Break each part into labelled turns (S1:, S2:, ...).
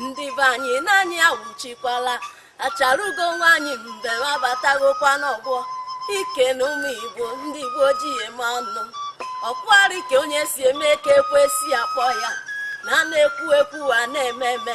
S1: ndị be anyị na anyị awụchikwala acharugo nwaanyị mbem abatagokwa n'ọgbọ ike na ụmụ igbo ndị igbo ji eme ọnụ ọkwari ka onye si eme ka ekwesị akpọ ya na a na-ekwu ekwu a na-eme eme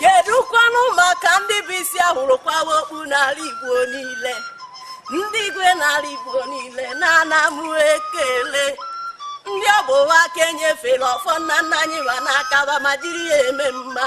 S1: kedụkwanụ maka ndị bụ isi a hụrụ kwawa okpu n'ala igbo niile ndị igwe n'ala igbo niile na ana m ekele ndị ọ bụ wa ka e nyefere ọfọ nna nna anyị wa n'aka wa ma jiri ya eme mma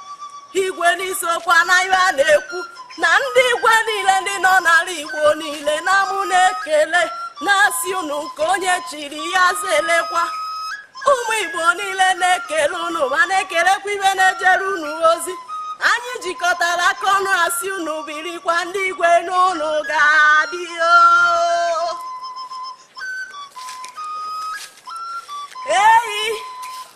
S1: igwe n'isiokwu na ihe a na-ekwu na ndị igwe niile ndị nọ n'ala igbo niile na mụ na-ekele na-asị unu nke onye chiri ya zelekwa ụmụ igbo niile na-ekele unu ma na-ekelekwa ibe na-ejere unu ozi anyị jikọtara aka ọnụ asị unu birikwa ndị igwe na unu ga-adị o ei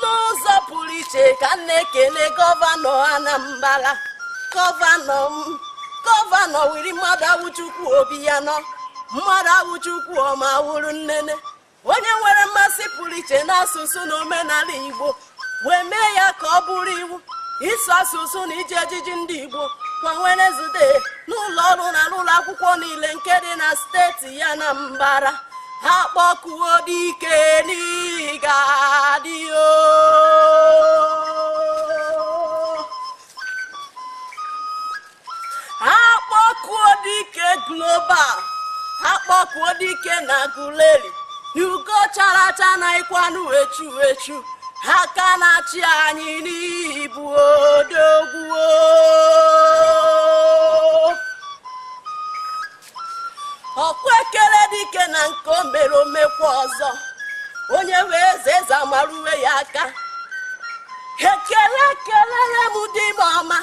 S1: n'ụzọ pụrụ iche ka m na-ekele gọvanọ Anambra gọvanọ m gọvanọ Willie Mmadụawụchukwu Obiano Mmadụawụchukwu ọma wụrụ nnene onye nwere mmasị pụrụ iche n'asụsụ na omenala Igbo wee mee ya ka ọ bụrụ iwu ịsụ asụsụ na iji ejiji ndị Igbo kwa Wenezdee n'ụlọ ọrụ na n'ụlọ akwụkwọ niile nke dị na steeti Anambra akpọkuo dike na ị ga-adị o akpọkuo dike global akpọkuo dike n'Aguleri na ugo chara acha anaghịkwanụ echu echu aka na-achị anyị na ị bụ odogwu o ọ kwa e kelee dike na nke o mere o mekwaa ọzọ onye fee eze eze ama ruwe ya aka ekele kelere m di m ọma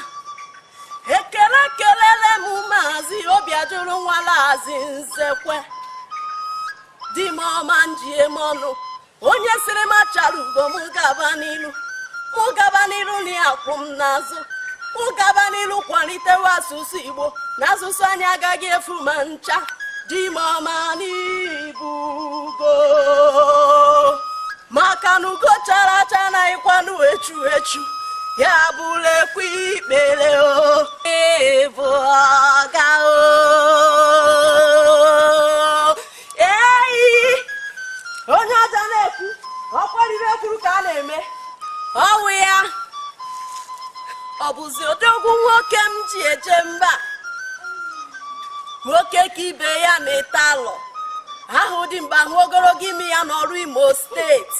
S1: ekele kelere m maazị Obiajụrụ nwa Laazị Nzekwe di m ọma m ji eme ọnụ onye sịrị m acharugo m gaba n'iru mụ gaba n'iru na ya kwụ m n'azụ mụ gaba n'iru kwalitewe asụsụ igbo na asụsụ anyị agaghị efu ma ncha di m ọma na ị bụ ugo maka na ugo chara acha anaghịkwanụ echu echu ya bụrụ ekwe ikpere o ị bụ ọga o eyi onye ọja na-ekwu ọkwarịrị ekwuru ka a na-eme ọwụ ya ọ bụzi odogwu nwoke m ji eje mba nwoke ka ibe ya na-ete alọ a hụ dimkpa a hụ ogologo imi ya n'ọlụ imo steeti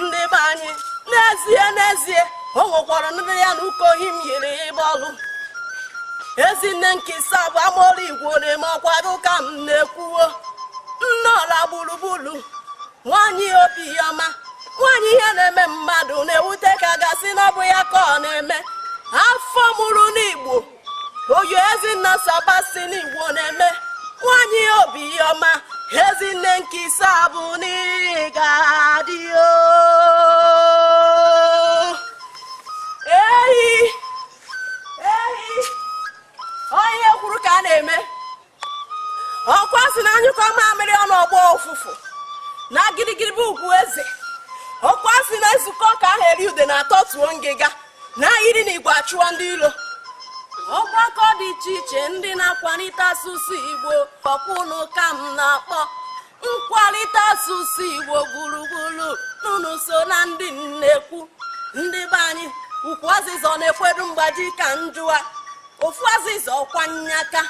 S1: ndị be anyị n'ezie n'ezie o nwekwara ndị ya na ụka ohi m yiri ịgba ọlụ ezinne nke ise abụ amaọrụ igbo na-eme ọkwa gị ka m na-ekwu o nne ọla gburugburu nwaanyị obi ọma nwaanyị ihe na-eme mmadụ na-ewute ka a ga-asị na ọ bụ ya ka ọ na-eme afọ mụrụ n'igbo oyo ezinna sebastian igbo na-eme nwanyị obi ọma ezinne nke ise abụ n'ị ga-adị o ehi ehi onye kwuru ka a na-eme ọkwa sị na a nyụkọọ mamịrị ọnụ ọ gbọọ ụfụfụ na gidigidi bụ ugwu eze ọkwa sị na e zukọọ ka a ha eri udene a tọtuo ngịga na a yiri n'igwe achụọ ndị ilo ọgbakọ dị iche iche ndị na-akwalite asụsụ igbo ọkwa unu ka m na-akpọ nkwalite asụsụ igbo gburugburu n'unu so na ndị m na-ekwu ndị be anyị ukwu azịza ọ na-ekwedu mgbaji ka m jụọ ofu azịza ọkwa nnyaka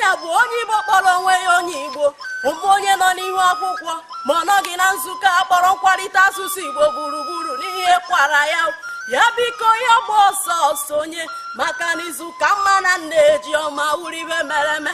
S1: ya bụ onye igbo kpọrọ onwe ya onye igbo ọ bụ onye nọ n'ihu akwụkwọ ma ọ nọghị na nzukọ a kpọrọ nkwalite asụsụ igbo gburugburu n'ihe kwara ya ya biko ya gbaa ọsọ sonye maka n'izu ka mma na nne ji ọma wụrụ ihe mere eme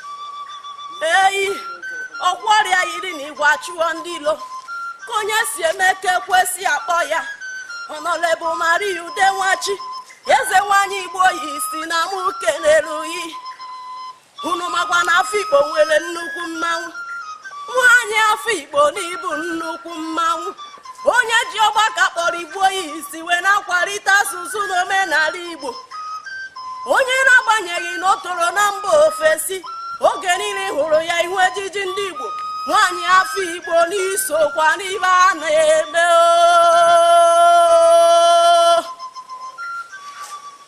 S1: eyi ọkwarị a yiri na igwe achụọ ndị ilo ka onye si eme ka ekwesị akpọ ya honourable maria ude nwachi eze nwanyị igboist na mụ kenere gị unu makwa na afikpo nwere nnukwu mmanwụ nwanyị afikpo na ị bụ nnukwu mmanwụ onye ji ọgbakọ a kpọrọ igboist wee na-akwalite asụsụ na omenala igbo onye na-agbanyeghị na o toro na mba ofesi oge niile ị hụrụ ya ị hụ ejiji ndị igbo nwaanyị afikpo n'i sokwa n'ihe a na-eme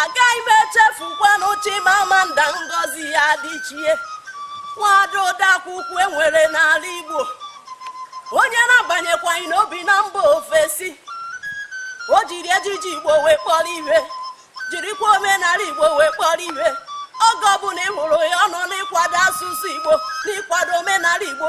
S1: agaghị m echefukwanụ Chimamanda Ngozi Adichie nwada odeakwụkwọ e nwere n'ala Igbo onye na-agbanyekwaghị n'o bi na mba ofesi o jiri ejiji Igbo wee kpọrọ ihe jirikwa omenala Igbo wee kpọrọ ihe oge ọbụla ị hụrụ ya ọ nọ n'ịkwado asụsụ Igbo n'ịkwado omenala Igbo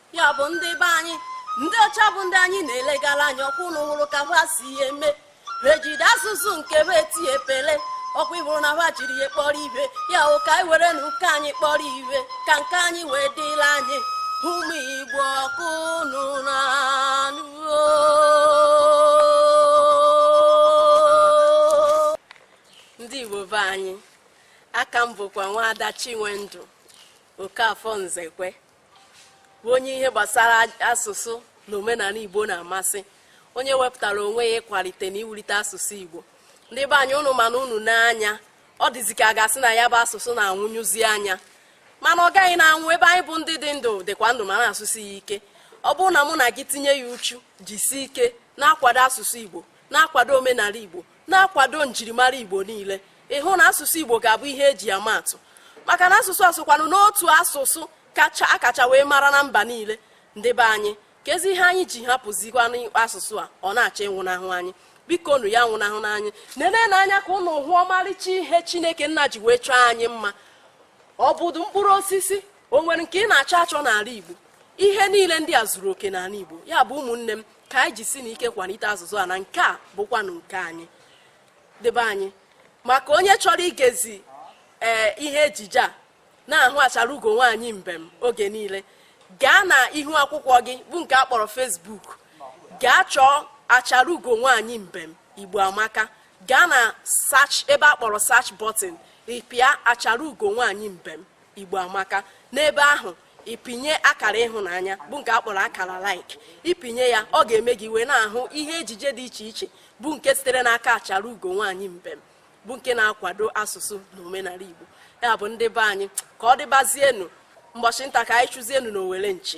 S1: ya bụ ndị be anyị ndị ọcha bụ ndị anyị na-elegara anya ọkwa ụnụ hụrụ ka ha si eme ejide asụsụ nke ha eti epele ọkwa ị hụrụ na ha jiri ya kpọrọ ihe ya bụ ka anyị werenụ nke anyị kpọrọ ihe ka nke anyị wee dịla anyị ụmụ igbo ọkwa ụnụ na-anụ ndị igbo be anyị aka m bụkwa nwaada chinwendụ okafọ nzekwe bụ onye ihe gbasara asụsụ na omenala Igbo na-amasị onye wepụtara onwe ya ịkwalite na iwulite asụsụ Igbo ndị be anyị ụnụ mana unu n'anya ọ dịzi ka a ga-asị na ya bụ asụsụ na-anwụnyụzi anya mana ọ gaghị na-anwụ ebe anyị bụ ndị dị ndụ dịkwa ndụ ma na-asụsi ya ike ọ bụrụ na mụ na gị tinye ya uchu jisie ike na-akwado asụsụ Igbo na-akwado omenala Igbo na-akwado njirimara Igbo niile ị hụ na asụsụ Igbo ga-abụ ihe eji ama atụ maka na asụsụ a sokwanụ n'otu asụsụ a kacha wee mara na mba niile ndị be anyị kezi ihe anyị ji hapụzikwanụ asụsụ a ọ na-achọ ịnwụnahụ anyị bikonụ ya anwụnahụna anyị nenenụ anya ka ụnụ hụ ọmarịcha ihe chineke nna ji wee chọọ anyị mma ọ bụdụ mkpụrụ osisi o nwere nke ị na-achọ achọ n'ala igbo ihe niile ndị a zuru oke n'ala igbo ya bụ ụmụnne m ka anyị jisinụ ike kwalite asụsụ a na nke a bụkwanụ nke anyị ndị be anyị maka onye chọrọ igezi ihe ejije a na-ahụ achara ugo nwaanyị mbem oge niile gaa na ihu akwụkwọ gị bụ nke a kpọrọ Facebook gaa chọọ achara ugo nwaanyị mbem igbo amaka gaa na search ebe a kpọrọ search button ị pịa achara ugo nwaanyị mbem igbo amaka n'ebe ahụ ị pịnye akara ịhụnanya bụ nke a kpọrọ akara like ị pịnye ya ọ ga-eme gị wee na-ahụ ihe ejije dị iche iche bụ nke sitere n'aka achara ugo nwaanyị mbem bụ nke na-akwado asụsụ na omenala igbo ya bụ ndị be anyị ka ọ dịbazienu mbọchị nta ka anyị chụzienu na owere nchi